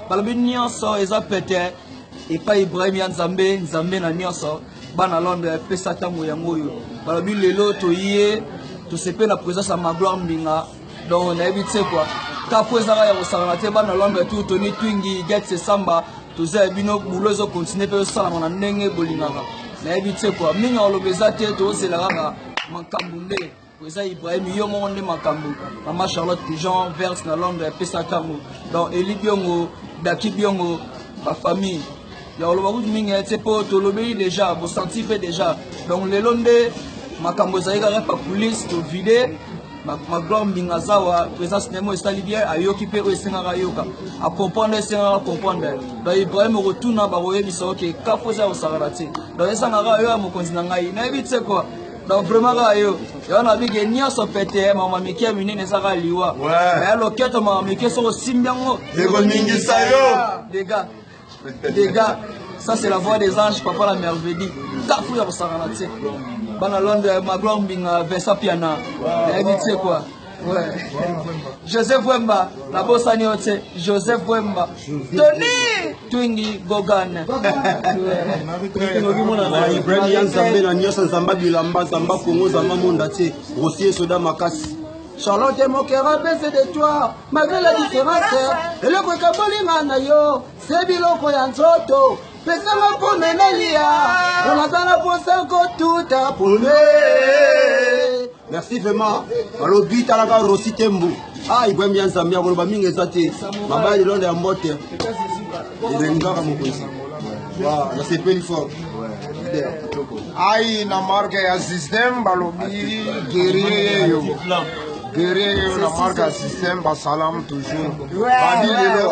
balobi nyonso eza pete epai ibrahim ya nzambe nzambe na nyonso bana londre apesa ntango yango oyo balobi lelo toye tosepeli na présence ya magloire mbinga donc nayebi tse kua kapo ezaka ya kosangana te bana londre tu toni twingi get sesamba toza ya bino bulo ezokontinue mpe ezosalama na ndenge bolingaka nayebi tse kua mingi oloba eza te tozela kaka makambo nde eza Ibrahim yo moko nde makambo mama Charlotte du genre verse na Londres ya pesa kango donc Eli Biongo Daki Biongo ba famille ya oloba kutu mingi ete mpo tolobeli deja bosanti mpe deja donc lelo nde makambo ezali kaka pa coulisse tovide magloire mbinga zawa présence na yango esali bien ayoki mpe oyo esengaka ayoka acomprendre esengaka acomprendre donc ibrahim okotuna bakoyebisa oke kafo eza kosakana te donc esangaka yo ya mokonzi na ngai nayebi te kua donc vraiment kaka yo yango nabi ke nyonso pete mama mike ya minene eza kaka liwa ya loketo mama mike soki osimbi yango ekoningisa yo dega dega ça c'est la voix des anges papa la merveille kafu ya kosangana te bana londre magloire mbinga vincent piana yayebi te quoi joseph wemba nabosani yo te joseph wemba tony twingi gogan ibrahim ya nzambe na nyonso nzamba bilamba nzamba kongo nzamba monda te rosie soda makasi charlotte mokera bese de toi malgré la différence eloko ekabolinga na yo se biloko ya nzoto pesa nga pome nalia po naza na posa kotuta pome merci vraiment balobi talaka rosi tembu ah igwembi ya nzambe ya koloba mingi eza te mabali londa ya mbote elengi kaka mokonzi nasepeli fort ai na marke ya systeme balobi gerie yeyo gerie yeyo na marke ya systeme basalam toujours badi lelo